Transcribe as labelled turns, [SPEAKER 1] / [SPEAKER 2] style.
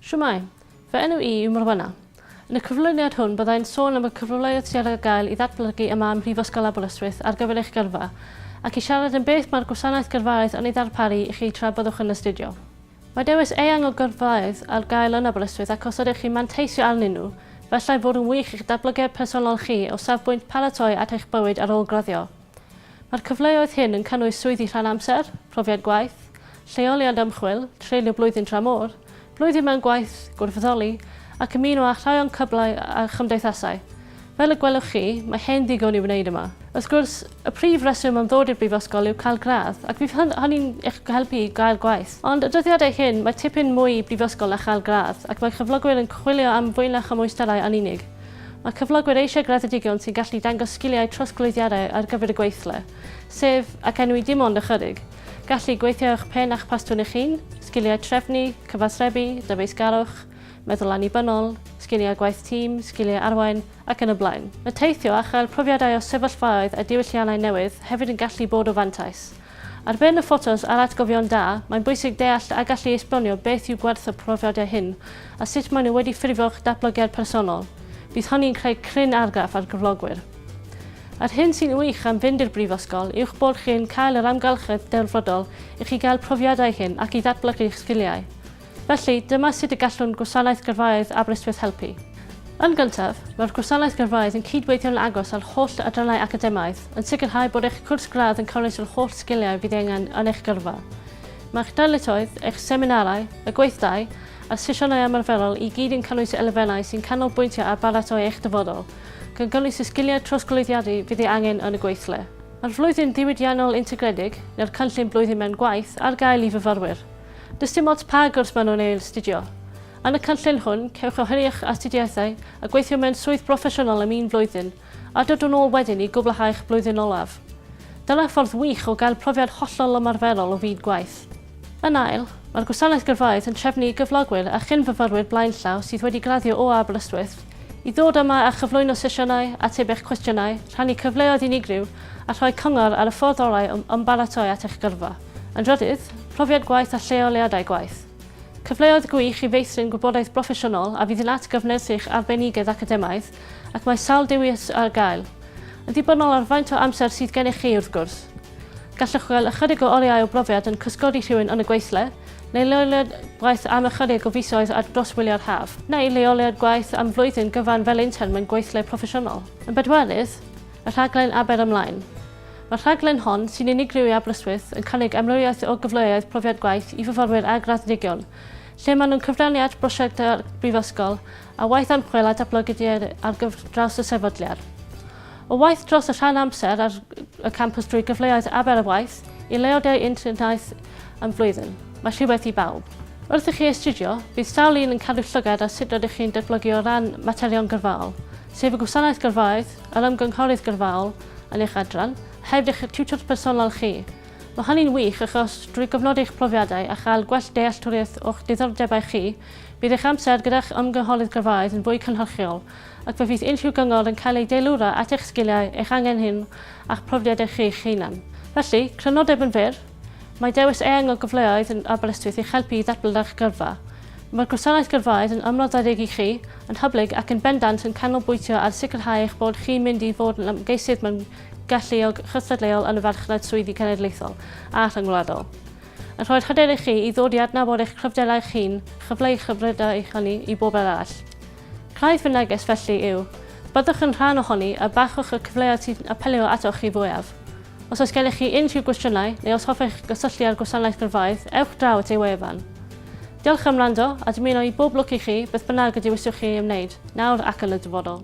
[SPEAKER 1] Shwmae! Fy enw i yw Morwenna. Yn y cyflwyniad hwn byddai'n sôn am y cyfleoedd sydd ar gael i ddatblygu yma ym Mhrifysgol Aberystwyth ar gyfer eich gyrfa, ac i siarad am beth mae'r gwasanaeth gyrfaoedd yn ei ddarparu i chi tra byddwch yn astudio. Mae dewis eang o gyrfaoedd ar gael yn Aberystwyth ac os ydych chi'n manteisio arnyn nhw, efallai fod yn wych i'ch datblygiad personol chi o safbwynt paratoi at eich bywyd ar ôl graddio. Mae'r cyfleoedd hyn yn cynnwys swyddi rhan amser, profiad gwaith, lleoliad ymchwil, treulio blwyddyn tramor, blwyddyn mewn gwaith, gwirfoddoli, ac ymuno â rhai o'n cyblau a chymdeithasau. Fel y gwelwch chi, mae hen ddigon i'w wneud yma. Wrth gwrs, y prif reswm am ddod i'r brifysgol yw cael gradd, ac fydd hynny'n eich helpu i gael gwaith. Ond y dyddiadau hyn, mae tipyn mwy i brifysgol na chael gradd, ac mae cyflogwyr yn chwilio am fwy na chymwysterau yn unig. Mae cyflogwyr eisiau graddedigion sy'n gallu dangos sgiliau trosglwyddiadau ar gyfer y gweithle, sef, ac enwi dim ond ychydig, gallu gweithio â'ch pen a'ch pastwn eich hun, sgiliau trefnu, cyfathrebu, dyfeisgarwch, meddwl annibynnol, sgiliau gwaith tîm, sgiliau arwain, ac yn y blaen. Mae teithio a chael profiadau o sefyllfaoedd a diwylliannau newydd hefyd yn gallu bod o fantais, Ar ben y ffotos a'r atgofion da, mae'n bwysig deall a gallu esbonio beth yw gwerth y profiadau hyn a sut maen nhw wedi ffurfio'ch datblygiad personol. Bydd hynny'n creu cryn argraff ar gyflogwyr. Yr hyn sy'n wych am fynd i'r brifysgol yw'ch bod chi'n cael yr amgylchedd delfrydol i chi gael profiadau hyn ac i ddatblygu'ch sgiliau. Felly, dyma sut y gallwn Gwasanaeth Gyrfaoedd Aberystwyth helpu. Yn gyntaf, mae'r Gwasanaeth Gyrfaoedd yn cyd-weithio'n agos â'r holl adrannau academaidd, yn sicrhau bod eich cwrs gradd yn cynnwys yr holl sgiliau fydd ei angen yn eich gyrfa. Mae'ch darlithoedd, eich seminarau, y gweithdai, a'r sesiynau ymarferol i gyd yn cynnwys elfennau sy'n canolbwyntio ar baratoi eich dyfodol, gan gynnwys y sgiliau trosglwyddiadu fydd ei angen yn y gweithle. Mae'r Flwyddyn Ddiwydiannol Integredig, neu'r Cynllun Blwyddyn Mewn Gwaith, ar gael i fyfyrwyr. Does dim ots pa gwrs maen nhw'n ei astudio. Yn y cynllun hwn, cewch oeri eich astudiaethau a gweithio mewn swydd broffesiynol am un blwyddyn, a dod yn ôl wedyn i gwblhau eich blwyddyn olaf. Dyna ffordd wych o gael profiad hollol ymarferol o fyd gwaith. Yn ail, mae'r Gwasanaeth Gyrfaoedd yn trefnu i gyflogwyr a chyn-fyfyrwyr blaenllaw sydd wedi graddio o Aberystwyth i ddod yma a chyflwyno sesiynau, ateb eich cwestiynau, rhannu cyfleoedd unigryw a rhoi cyngor ar y ffordd orau o ymbaratoi at eich gyrfa. Yn drydydd, profiad gwaith a lleoliadau gwaith. Cyfleoedd gwych i feithrin gwybodaeth broffesiynol a fydd yn atgyfnerth eich arbenigedd academaidd ac mae sawl dewis ar gael. Yn ddibynnol ar faint o amser sydd gennych chi, wrth gwrs. Gallwch gael ychydig o oriau o brofiad yn cysgodi rhywun yn y gweithle, neu leoliad gwaith am ychydig o fisoedd ar dros wyliau'r haf, neu leoliad gwaith am flwyddyn gyfan fel intern mewn gweithle proffesiynol. Yn bedwerydd, y rhaglen Aber Ymlaen. Mae'r rhaglen hon, sy'n unigryw i Aberystwyth, yn cynnig amrywiaeth o gyfleoedd profiad gwaith i fyfyrwyr a graddedigion, lle maen nhw'n cyfrannu at brosiectau brifysgol a waith ymchwil a datblygu dier ar gyfer draws y sefydliad. O waith dros y rhan amser ar y campus drwy gyfleoedd aber y waith i leoliau internaeth am flwyddyn. Mae rhywbeth i bawb. Wrth i chi astudio, bydd sawl un yn cadw llygad ar sut rydych chi'n datblygu o ran materion gyrfaol, sef y gwasanaeth gyrfaoedd, Yr ymgynghorydd gyrfaol yn eich adran, heb eich tiwtor personol chi. Mae hynny'n wych achos drwy gyfnodi eich profiadau a chael gwell dealltwriaeth o'ch diddordebau chi, bydd eich amser gyda'ch ymgynghorydd gyrfaoedd yn fwy cynhyrchiol ac fe fydd unrhyw gyngor yn cael ei deilwra at eich sgiliau, eich angen hyn a'ch profiadau chi'ch hunan. Felly, crynodeb yn fyr! Mae dewis eang o gyfleoedd yn Aberystwyth i'ch helpu i ddatblygu eich gyrfa. Mae'r gwasanaeth gyrfaoedd yn ymroddedig i chi, yn hyblyg ac yn bendant yn canolbwyntio ar sicrhau eich bod chi'n mynd i fod yn ymgeisydd mewn galluog chystadleuol yn y farchnad swyddi cenedlaethol a rhyngwladol. Yn rhoi'r hyder i chi i ddod i adnabod eich cryfderau eich hun, chyfleu eich hyfrydau hynny i bobl arall. Rhaid fy neges felly yw, byddwch yn rhan ohoni a bachwch y cyfleoedd sy'n apelio atoch chi fwyaf. Os oes gennych chi unrhyw gwestiynau neu os hoffech gysylltu â'r gwasanaeth gyrfaoedd, ewch draw at ei wefan. Diolch am wrando a dymuno i bob lwc i chi beth bynnag y dewiswch chi ei ymwneud, nawr ac yn y dyfodol.